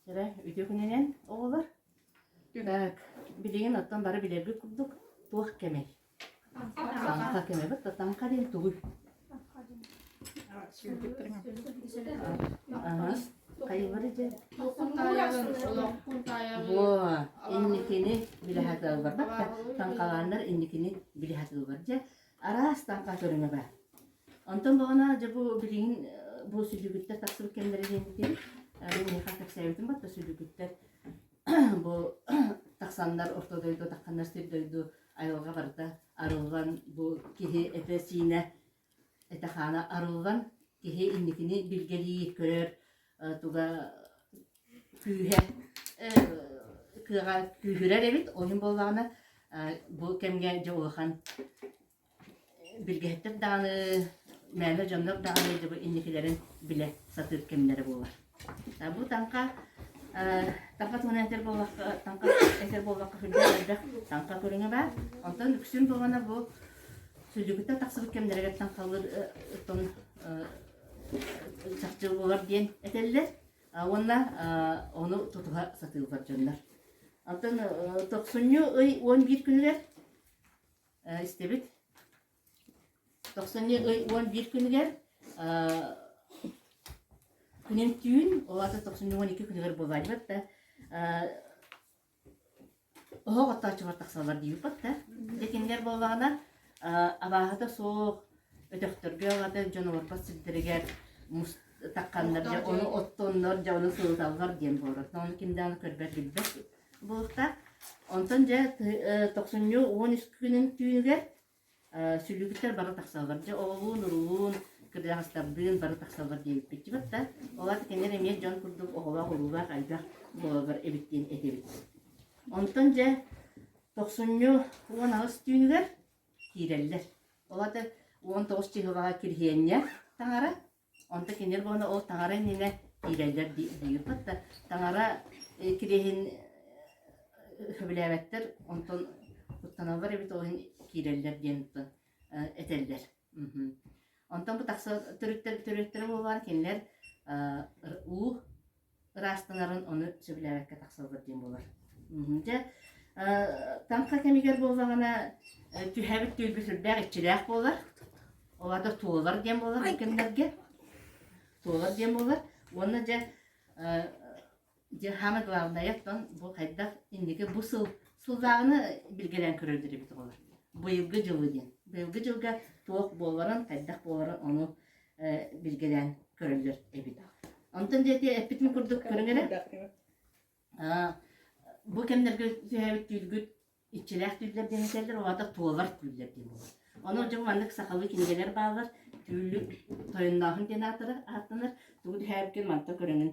Сыра үтүөкүнэнэн, оҕолор, так, билигин оттон бары билэргит курдук, туох кэмэй? Таҥха кэмэбит, таҥха диэн тугуй? Хайылары дьэ? Бо, инникини биле хатылбар бакта, таҥхалааннар инникини биле хатылбар дьэ, Араас тарҕа көрүҥэбэ. Онтон баҕана дьэ бу билигин бу сүлүгүттэр тахсыбыт кэмнэрэ диэбиттин мин миэхэ кэпсээбитим батта сүлүгүттэр бу тахсаннар орто дойду тахханнар сир дойду айылга барда арыллан бу киһи этэ-сиинэ этэ-хаана арыллан киһи инникини билгэлии көрөр туга күүһэ кыаҕа күүһүрэр эбит ойун буоллаҕына бу кэмҥэ дьэ улахан билгэһиттэр даҕаны мээнэ дьоннор даҕаны дьэ бу инникилэрин билэ сатыыр кэмнэрэ буолар бу таҥха таҥха туһунан этэр буоллахха таҥха этэр буоллахха күрдьэх элбэх таҥха көрүҥэ баар онтон үксүн буолана бу сүлдьүкүттэн тахсыбыт кэмнэригэр таҥхалыыр оттон чахчы буолар диэн этэллэр уонна ону тутуһа сатыыллар дьоннор. Оттон тохсунньу ый уон биир күнүгэр истибит. Тохсунньу ый уон биир күнүгэр күнүн түүн, ол аата тохсунньу уон екі күнүгэр буолаайбыт да, оһох оттооччулар тахсаллар диибиппит да дьэ кинилэр буоллаҕына абааһыта суох өтөхтөргө аҕата дьон олорбот сирдэригэр мус такханнар дьэ ону оттоннор дьэ ону сылыталлар диэн буолар ону ким даҕаны көрбөт билбэт буолуохтаах онтон дьэ тохсунньу уон үс күнүн түүнүгэр сүлүгүттэр бары тахсаллар. Дьэ, оҕолуун-уруулуун, кырдьаҕастардыын бары тахсаллар диэбиппитчибит да, ол аата кинилэр эмиэ дьон курдук оҕолоох-уруолаах элбэх буолаллар эбит диэн этибит. Онтон дьэ тохсунньу уон аҕыс түүнүгэр киирэллэр. Ол аата уон тоҕус чыһылаҕа кириһиэнньэ таҥара, Онто кинилэр буолана ол таҥара иннинэ тиийэллэр дии диирбит да, таҥара э, кириэһин э, сөбүлээбэттэр, онтон куттаналлар эбит, ол иһин киирэллэр диэн оттон э, этэллэр. Мгм. Онтон бу тахса төрүттэр төрүттэрэ буоллар кинилэр э, р- уу, ыраастанарын ону сөбүлээбэккэ тахсаллар диэн буолар. Дьэ, таҥха кэмигэр буоллаҕына түһээбит түөлбө сүрдээх иччилээх буолар. Ол да туолар диэн буолар бу кэмнэргэ. Туолар диэн буолар. Уонна дьэ дьэ самое главное оттон бу хайдах инники бу сыл сыллааҕыны билгэлээн көрөллөр эбит болар. Быйылгы дьылы диэн. Быйылгы дьылга туох буоларын, хайдах буоларын ону билгэлээн көрөллөр эбит. Онтон диэти эппитин курдук көрүҥ эрэ. Бу кэмнэргэ түһээбит түүлгүт иччилээх түүллэр диэн этэллэр, оҕата туолар түүллэр диэн буолар. Ону дьон маннык сахалыы кинигэлэр бааллар. Түүллүк тойоннооһун диэн аатырар ааттанар. Тугу түһээбиккин манта көрөҥүн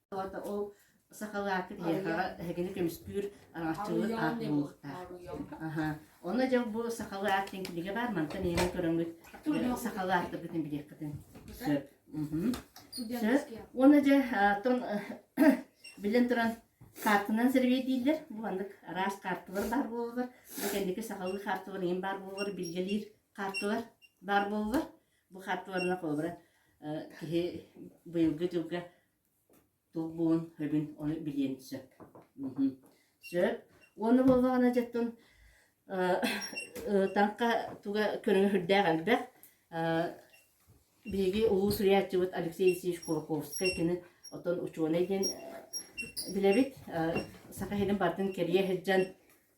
Олата ол сахалаакы тиһэҕэҕэ эһигини көмүскүүр араҥаччылык аат буолуохтаах. Аха. Онно дьыл бу сахалаат диэн кинигэ баар мантан ийэни көрөммүт сахалааттарбытын билиэххитин. Сөп. Сөп. Уонна дьэ тон билэн туран картынан сервиэтииллэр. Бу маннык араас карталар баар буолалар. Бу кэнники сахалыы карталар ийин баар буолалар, билгэлиир карталар баар буолалар. Бу харты барына холобура киһи быйылгы дьылга туох буолун өбүн ону билиэн сөп. Сөп. Уонна буоллаҕына дьэттон таҥха туга көрөһүрдээх элбэх. Биһиги улуу суруйааччыбыт Алексей Исиевич Курковскай кини отон учуонай диэн билэбит. Саха иһинин бартын кэрийэ сылдьан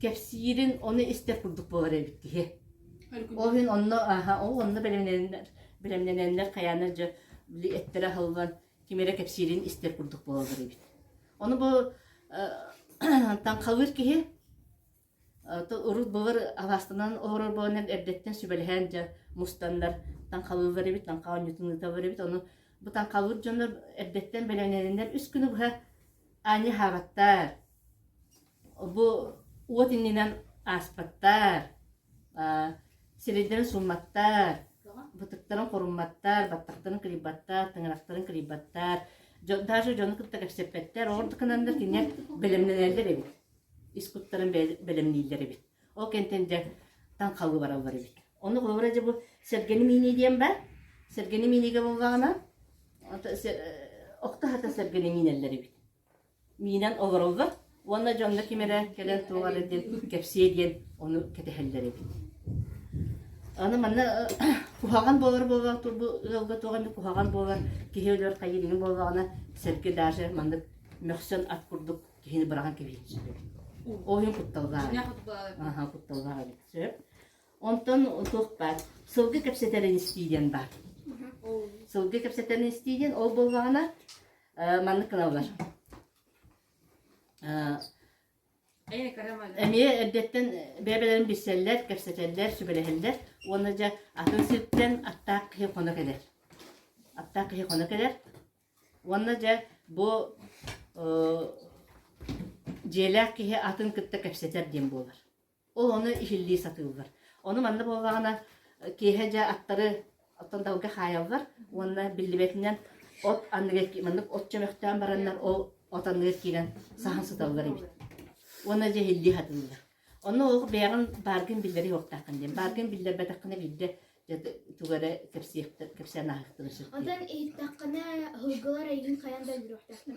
кэпсиирин ону истэр курдук буолар эбит киһи ол иһин онно аха ол онно бэлэмнэнэннэр бэлэмнэнэннэр хайаанар дьэ били эттэрэ аһыллан ким эрэ кэпсиирин истэр курдук буолаллар эбит ону бу таҥхалыыр киһи урут былыр алаастанан олорор буоланар эрдэттэн сүбэлэһэн дьэ мустаннар таҥхалыыллар эбит таҥха оонньуутун ыыталлар эбит ону бу таҥхалыыр дьоннор эрдэттэн бэлэмнэнэннэр үс күнү быһа аанньа хаабаттар Бу уот иннинэн ааспаттар, сирэйдэрин суумматтар, бытыктарын хорумматтар, баттахтарын кырыйбаттар, тыҥырахтарын кырыйбаттар, даже дьону кытта кэпсэппэттэр, ол да гынан да кинигэ бэлэмнэнэллэр эбит, ис куттарын бэлэмнииллэр эбит. Ол кэнтэн дьэ таҥхалыы бараллар эбит. Ону холобура дьэ бу сэргэни миинии диэн баар. Сэргэни мииниигэ буоллаҕына охто-сата сэргэни миинэллэр эбит. Миинэн олороллор уонна дьоҥҥо ким эрэ кэлэн туолар диэн кэпсиэ диэн ону кэтэһэллэр эбит. Аны манна куһаҕан буолар буоллаҕа бу ыалга туох эмит куһаҕан буолар киһи өлөр хайыыҥҥа буоллаҕына сэргэ даже маннык мөхсөн ат курдук киһини быраҕан кэбиһиэччилэр. Ол иһин кутталлаах Аха кутталлаах эбит. Сөп. Онтон туох баар сылгы кэпсэтэрин истии диэн баар. Сылгы кэпсэтэрин истии диэн ол буоллаҕына маннык гыналлар эмиэ эрдэттэн бэйэ-бэйэлэрин билсэллэр, кэпсэтэллэр, сүбэлэһэллэр уонна дьэ атын сиртэн аттаах киһи хоно кэлэр. Аттаах киһи хоно кэлэр уонна дьэ бу дьиэлээх киһи атын кытта кэпсэтэр диэн буолар. Ол ону иһиллии сатыыллар. Ону манна буоллаҕына киэһэ дьэ аттары оттон далга хаайаллар уонна биллибэтинэн от анныгар маннык от чөмөхтөөн бараннар ол от анныгар киирэн саһан сыталлар эбит. Уонна дьэ иһиллии сатыыллар. Онно ол бэйэҕин бааргын биллэрэ суохтааххын диэн. Бааргын биллэрбэтэххинэ биирдэ тугу эрэ кэпсиэхтэр кэпсээн ааһыахтына сөп. Оттон иһиттэххинэ, аһылгылар эйигин хайаан да өлөрүөхтэхтэр.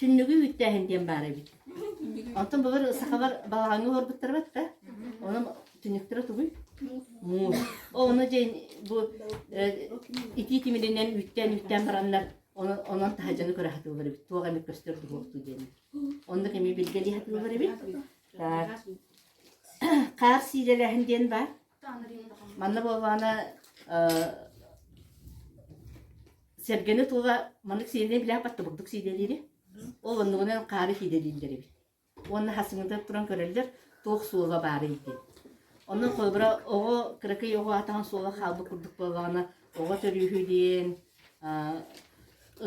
Түннүгү үттээһин диэн баар эбит. Онтон былыр сахалар балаҕаҥҥа олорбуттара бат да. Онон түннүктэрэ тугуй? Муус. Ону дьин бу итии тимиринэн үүттээн-үүттээн бараннар онон таһаджаны көрө хатыылар эбит. Туох эмит көстөр духуохтуу диэн. Онно кэми билгели хатыылар эбит. Так. Хаар сиилэлэһин диэн бар. Манна буоллаҕына Сэргэни тула маннык сиэдэнэй билээх баттыбырдык сиэдэлиири, ол оннугунан хаары сиэдэлииллэр эбит. Уонна хасыҥыта туран көрөллөр, туох суола баарый диэн. Онон холобура оҕо кыракый оҕо атаҕын суола хаалбыт курдук буоллаҕына, оҕо төрүүһү диэн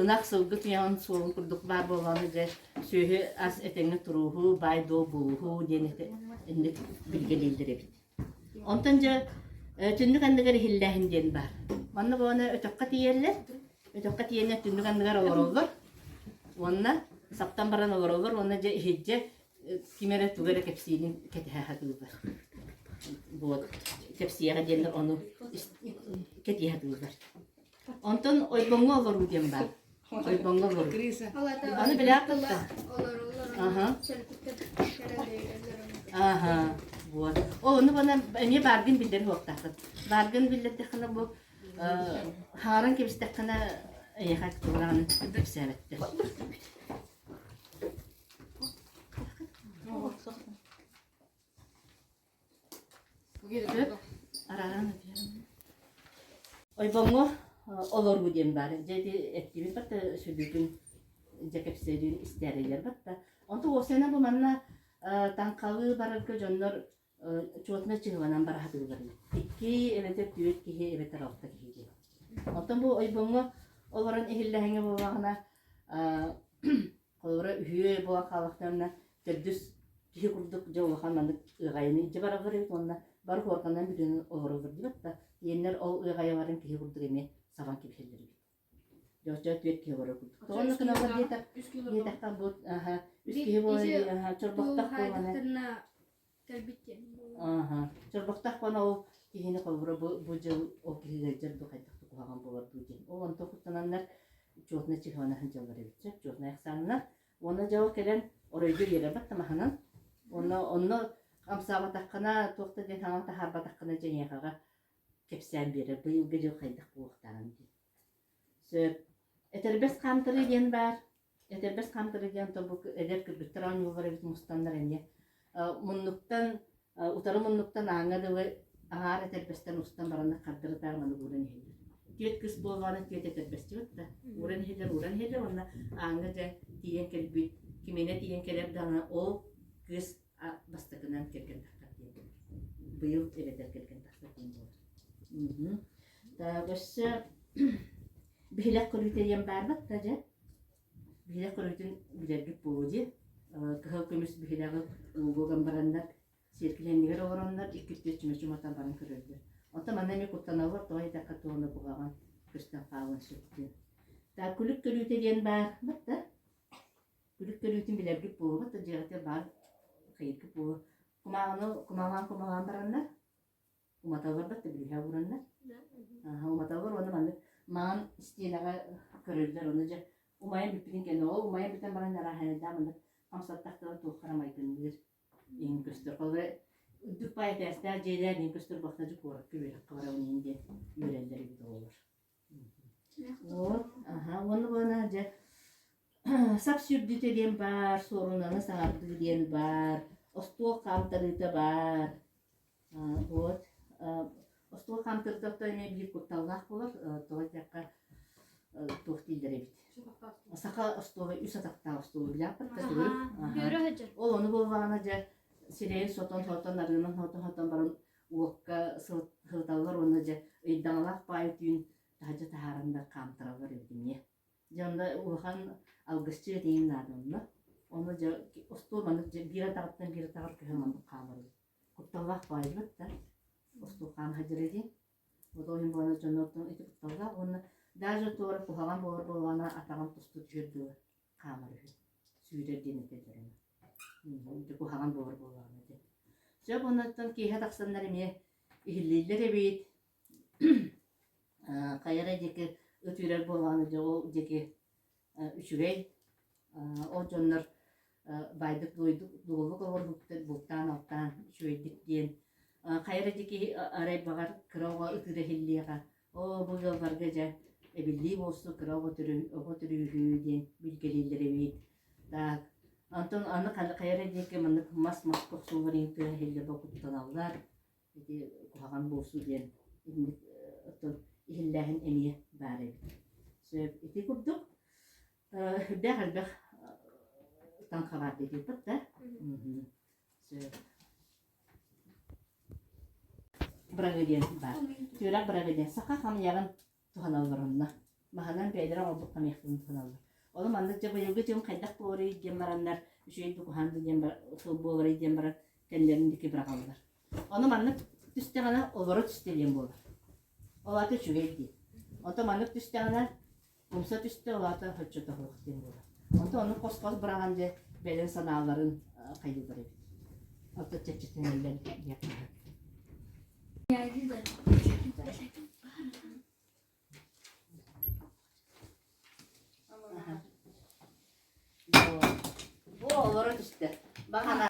ынах сылгы туйаҕын суолун курдук баар буоллаҕына дьэ сүөһү ас этэҥҥэ турууһу, баай-дуол буолууһу диэн этэ билгэлииллэр эбит. Онтон дьэ түннүк анныгар иһиллээһин диэн баар. Манна баҕана өтөххө тиийэллэр. Өтөххө тиийэннэр түннүк анныгар олороллор. Уонна саптан баран олороллор уонна дьэ иһирдьэ ким эрэ тугу эрэ кэпсиирин кэтэһэ сатыыллар. Вот кэпсиэҕэ диэннэр ону кэтиһэ сатыыллар. Онтон ойбоҥҥо олоруу диэн баар. Ойбоҥҥо олоруу. Аны билээх тылла. Аха. Аха. Вот. О, ну бана эмиэ бааргын биллэр хуоктааххыт. Бааргын биллэрдэххинэ бу хааран кэбистэххинэ эйэхэ кылаан кэпсээбэттэр. ойбоҥҥо олоруу диэн баар дьэ ити эттиибин барыта сүдүүтүн дьэ кэпсээлиин истээрийэр батта онту уосена бу манна таҥхалыы барарга дьоннор чуотуна чыһыланан бараһатыылар икки эбэтэр түөрт киһи эбэтэр алта киһи диэн оттон бу ойбоҥҥо олорон иһиллэһиҥэ буоллаҕына Холобура, үһүө буо хаалахтарына төрдүс киһи курдук дьэ улахан маннык ыаҕайыны илдьэ бараллар эбит уонна бары хуорканан бүтүнүн олороллор диэбэт да, тиэннэр ол ыаҕайаларын киһи курдук эмиэ сабан кэбиһэллэр эбит. Дьоччо түөрт киһи олорор курдук. Тоҕонно гыналлар диэтэр, диэтэхтэр бу үс киһи буолар диэтэхтэр бу Кэлбит диэн. Ааха. Чорбохтоох буола ол киһини холборо бу, бу дьыл ол киһигэ дьэр дуу хайдах да куһаҕан буолар дуу диэн. Ол онто куттананнар чуотна чихана сылдьаллар эбит сөп, чуотна ехсаннар. Уонна дьао кэлэн оройго үйэлэ баттамаханан. Онно онно амсаабатаххына туох да диэн хаҥа таһаарбатаххына дьэниэхаҕа кэпсээн биэрэр быйылгы дьыл хайдах буолуохтааҕын диэн. Сөп. Этэрбэс хаамтарыы диэн баар. Этэрбэс хаамтарыы диэн торбук эдэр кыргыттар оонньууллар эбит мустаннар эмиэ. муннуктан утары муннуктан ааҥҥа дылы аһаар этэрбэстэр устан бараннар хардырытаан аны ууран иһэллэр. Түөрт кыс буоллаҕына түөрт этэрбэсчибит да ууран иһэллэр, ууран иһэллэр уонна ааҥҥа дьэ тиийэн кэлбит, кимиэнэ тиийэн кэлэр даҕаны ол кыс А бастакынан кэргэн тахсар диэн. Быйыл эбэтэр кэргэн тахсар диэн буолар. Так өссө бэһилэх көрүүтэриэн барбыт да дьэ. Бэһилэх көрүүтүн билэрбит буолу дии. Кыһыл көмүс бэһилэҕи уугуган бараннар сиэркилэннигэр олороннор иккитте чүмөчүматан баран көрөллөр. Оттон манна эмиэ куттаналлар тоҕо айдакка туона буһаҕан көстөн хаалан сөптүн. Так күлүк көрүүтэ диэн бар бат да. үрүт көлүөтүн билэргит буолуобут да дьиэҕитэ баар хайыргы буо кумааҕыны кумааҕаан кумааҕаан бараннар уматалларбат да бүлүһэ уураннар аха уматаллар уонна маннык маан истиэнэҕэ көрөллөр ону дьэ умайан бүппүтүн кэннэ ол умайан бүтэн баран арааһайда маннык хамсат тахтала туоххара майгынныыр иһин көстөр холобура үрдүк баай этээстээх дьиэлэр иһин көстөр бахтажы куоракка үөрэххэ барабын иһин диэн үөрэллэр эбит оҕолор От, аһа, уонна уона дьэ сап сүрдүтэ диэн баар, суорунаны саҥардыы диэн баар, остуол хаамтарыыта баар. Аа, вот, аа, остуол хаамтарыытыттан эмиэ биир кутталлаах буолар, э, тоҕо диэххэ э, туох дииллэр эбит? Саха остуола үс атахтаах остуол улааппыкка төгүл. Аха. Бүөрө сылдьар. Ол ону буоллаҕына дьэ сирэйин сотон-сотон, арыынан сотон-сотон баран уокка сылыталлар уонна дьэ ыйдаҥалаах паайы түүн таһырдьа таһааран да хаамтараллар эбит эмиэ. Дьэ онно улахан алгысчыт этэйим наада онно. Ону дьэ остуол маннык дьэ биир атаҕыттан биир атаҕар көһө маннык хаамар эбит. Кутталлаах паайбыт да остуол хаана сылдьар этиҥ. Вот ол иһин буолана дьоннортон ити кутталлаах уонна даже туора куһаҕан буолар буоллаҕына атаҕын тусту түүр дуу хаамар үһү. Сүүрэр диэн этэллэр Дьэ куһаҕан буолар буоллаҕына дии. Сөп оннуттан киэһэ тахсаннар эмиэ иһиллииллэр эбит. Э, хайа эрэ диэки ытыырар буоллаҕына дьэ ол диэки э, үчүгэй. Э, ол дьоннор э, байдык дуойдук дуолук олорбуттар бултаан-алтаан үчүгэйдик диэн. Э, хайа эрэ диэки арай баҕар кыра оҕо ытыыра иһиллиэҕэ. Оо, бу ыалларга дьэ эбиллии буолсун кыра оҕо төрүү оҕо төрүүрүү диэн билгэлииллэр эбит. Так, онтон аны хана хайа эрэ диэки маннык мас мас кохсуулар иһин тыа иһиллэ бокуттаналлар. Ити куһаҕан буолсу диэн инник э, оттон иһиллээһин эмиэ баар эбит. Сөп ити курдук э, элбэх элбэх э, таҥхалаат ити да. Сөп. бырагыдиан баар. Түөрэх бырагыдиан. Саха хамыйаҕын туһаналларынна. Маһынан бэйэлэрэ оҥорбут хамыйахтарын туһаналлар. Ону маннык дьэ быйылгы дьыл хайдах буоларый диэн бараннар, үчүгэй дукуһаан диэн тыл буоларый диэн баран кэллэрин диэки быраҕаллар. Ону маннык түстэҕинэ олоро түстэлиэн буолар. Ол ата үчүгэй диэн. Онто маннык түстэҕинэ умса түстэ уота хоччото суох диэн буолар онто ону хос-хос быраҕан дьэ бэлэн санааларын хайыылар эбит ото чэччэтинэллэн бу олоро түстэ баҕана